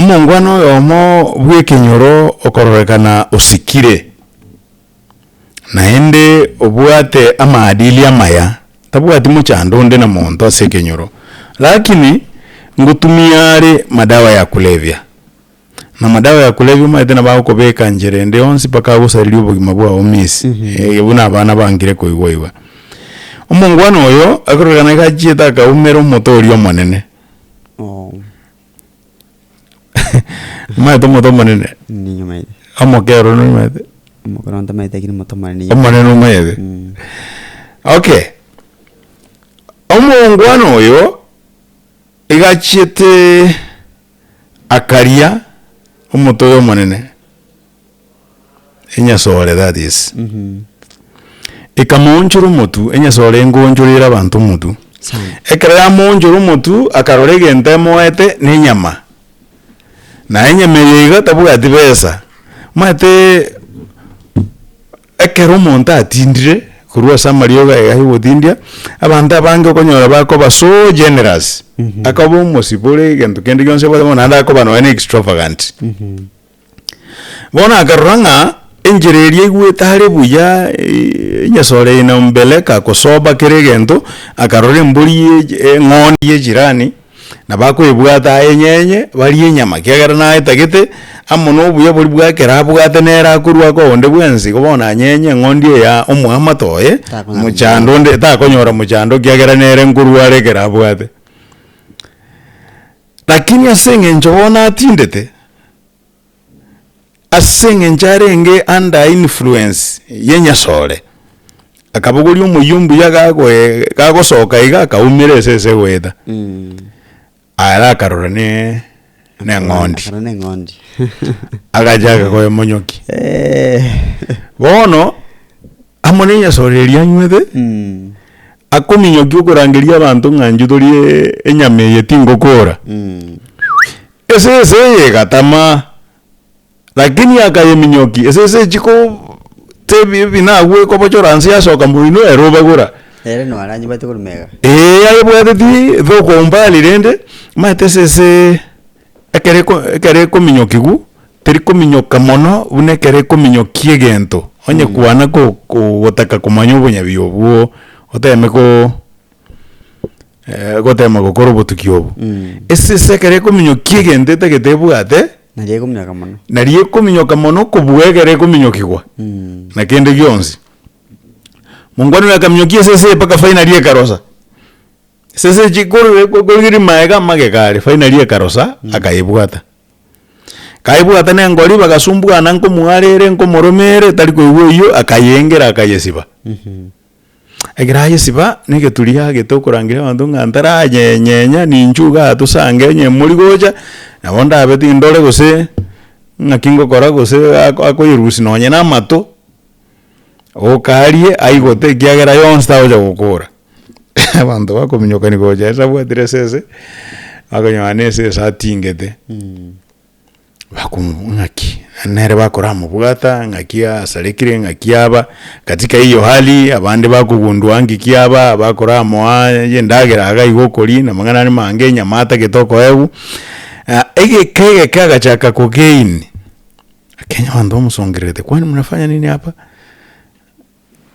Omongwana oyomo bw'ekenyoro okororekana osikire, naende obwate amaadili amaya, tabwati mochando onde na monto ase ekenyoro, lakini ngotumia are madawa ya kulevya, na madawa ya kulevya omanyete nabo agokobeka nchera ende yonsi mpaka agosareria obogima bwao miss, eeh buna abana bangire koigwa igwa. Omongwana oyo akororekana gachiete akaumera omote oria omonene. Nimanyete omonto omonene? Ninyomete. Omokero nonyomete? Omokero ntamanyete lakini omonto omonene ninyomete. Omonene omanyete? Okay, omoongwana oyo iga achiete akaria omonto oyo omonene. enyasore, that is, ekamoonchora omotu, enyasore enkoonchoreire abanto omotu. Sana. Ekero yamoonchora omotu, akarora egento emoete na enyama, na enyama eye iga tabwati besa, omanyete ekero omonto atindire korwa ase amariogo aye agotindia, abanto abange okonyora bakoba so generous, akoba omosibore egento kende gionsi abwate bono naende akoba nonye na extravagant. Bono akarora ng'a enchera eria egwete hare buya, enyasore eye na mbeleka kosoba kera egento, akarora embori ye eng'ondi ye chirani, nabo akoebwata ayenyenye barie enyama kiagera naetagete, amo na obuya boria bwa ekero abwate nere akorwa ake onde bwensi, igo bono anyenye eng'ondi eye ya omoamate oye, Takonyara mochando onde takonyora mochando kiagera nere nkorwa are ekero abwate. Lakini ase engencho bono atindete, ase engencho arenge under influence y'enyasore, akabogoria omoyio ombuya gagoe- gagosoka iga akaumera esese goeta, ara akarora ne- neng'ondi, Akarora neng'ondi. agachaka koemonyokia. Bono. amo nenyasore eria anywete Mm. akominyokia okorangeria abanto ng'a inche tori e- enyama eye tingokora Mm. esese eye egatama lakini akayeminyokia esese echi ko tebi ebinagwa ekobochora nse yasoka moino ere obagora Ere noo aranyebwate korwa mega. ee ayebwateti thokomba rende maete esese Ekero eko ekero ekominyokigwa, terikominyoka mono buna ekero ekominyokia egento, onye kwana ko ko gotaka komanya obonyabi obwo oteme ko gotema gokora obotuki obo. Esese ekero ekominyokia egento etagete ebwate, Naria ekominyoka mono. naria ekominyoka mono kobua ekero ekominyokigwa na kende gionsi. Mongwana oyo akaminyokia esese eye mpaka finally ekarosa, Sese chi kore korigeria maega amagega aria finally ekarosa akaebwata. Kaebwata na engori bagasumbuana nkomwarere nkomoromere tari koigwa oyio akayengera akayesiba. Ekero ayesiba na egeturi yagete okorangeria abanto ng'a ntaranyenyenya ninchuo iga ato sa ngenye emori gocha nabo ndabe tindore gose ng'aki ngokora gose akoyerusia nonye na amato. Okarie aigote ekiagera yonsi tagocha gokora. Abanto bakominyokani gocha ase abwatire esese, bakonyora na esese atingete. Bakomobogoria ng'aki? Naende nere bakoramobwata ng'aki asarekire, ng'aki aba katika hiyo hali, abande bakogundua ng'iki aba, bakoramoa endagera iga iga okoria, na amang'ana aria amange, enyama atagete okoegwa. Egeka egeke agachaka kogain. Ekenya abanto bamosongererete, kwani mnafanya nini hapa?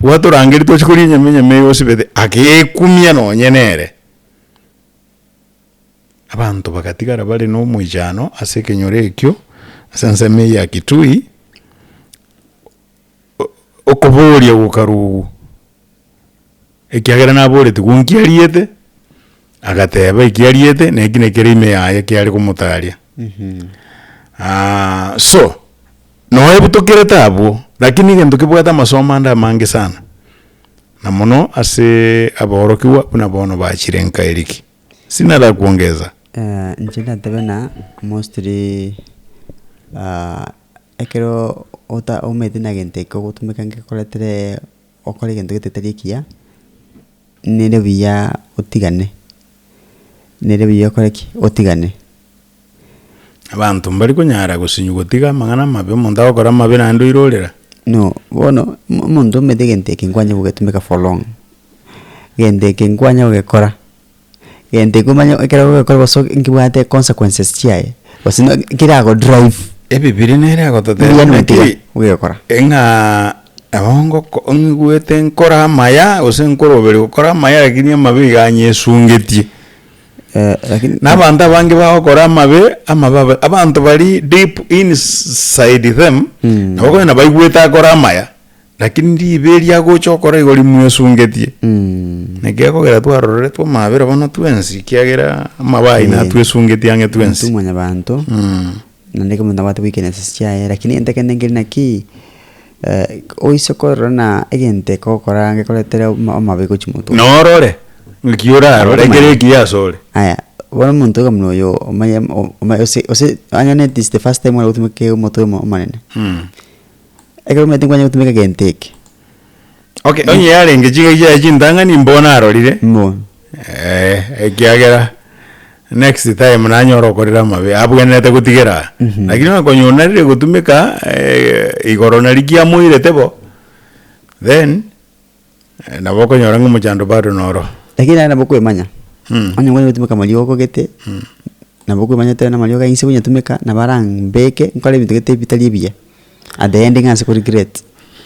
Gwatorangeria toche koria enyama, enyama eye osibete, agekumia nonye nere. Abanto bagatigara bare nomoichano ase ekenyoro ekio, ase ensemo eye ya Kitui, okoboria gokarwa obo. ekiagera naboreti gwo nkiariete, agateba ekiariete na eki nekere ime yaye ekiare komotaria. so, noe ebi tokerete abwo, rakini egento kebwate amasomo ande amange sana, na mono ase aborokigwa buna bono bachire nka Eriki. Sina ara kuongeza? inche ndatebe buna mostly ekero omanyete buna egento eke ogotumeka ngekoretere. Gokora egento getari ekiya, nere buya otigane, nere buya okore ki? Otigane. Abanto mbari konyara gosinywa gotiga amang'ana amabe, omonto agokora amabe naende oirorera? No, bono mo- omonto omanyete egento eke nkwanyia gogetumeka for long, egento eke nkwanyia gogekora. gento ekio omanye ekero ogokora gose nkebwate consequences chiaye, gose no keragodrive. Ebibiri nere egototebia Mbuya ng'a notiga ki, ogekora. ng'a nabo ngoko ngigwete nkore amaya gose nkore obere gokora amaya lakini amabe iga anyesungetie. lakini. Na abanto abange bagokora amabe, amabe abe abanto baria deep inside them, nabo okonyora nabaigwete akore amaya. Lakini ribe eria agocha okora igo rimwesungetie. Nekegokera twaroreretwe amabera bono twensi, kiagera amabaa aino Eh. atwesungetie ang'e Intwe twensi. mwanyabanto Mm. naende ekero omonto nabwate goikera esese chiaye lakini egento ekende nkeri nakii eh, oise korora na egento ekogokora gekoretere oma- amabe gochia moto Na orore, ng'aki orarore ekero Abamanya. ekiya asore. Aya, bono omonto oiga buna oyo omanye o- ome- ose- ose ang'e na at least the first time ore gotumeka omote omo- omonene. Mm. Ekero omanyete nkwanyare gotumeka egento eke. Okay, onye yarenge chingaki chiaye chintang'ani mbo narorire, Mbo. eh, ekiagera next time nanyore okorera amabe abwenerete gotigera aa. Lakini onye konya onarire gotumeka eh, igoro naria kiamoirete bo, then. Nabo okonyora ng'a omochando bado noro. Lakini naende nabo okoemanya, onye nkonyare gotumeka amariogo gete, nabo okoemanya tari namariogo ainse bu nyatumeka, nabo ara mbeke, nkore ebinto gete bitari ebiya, at the end ng'anse ko regret.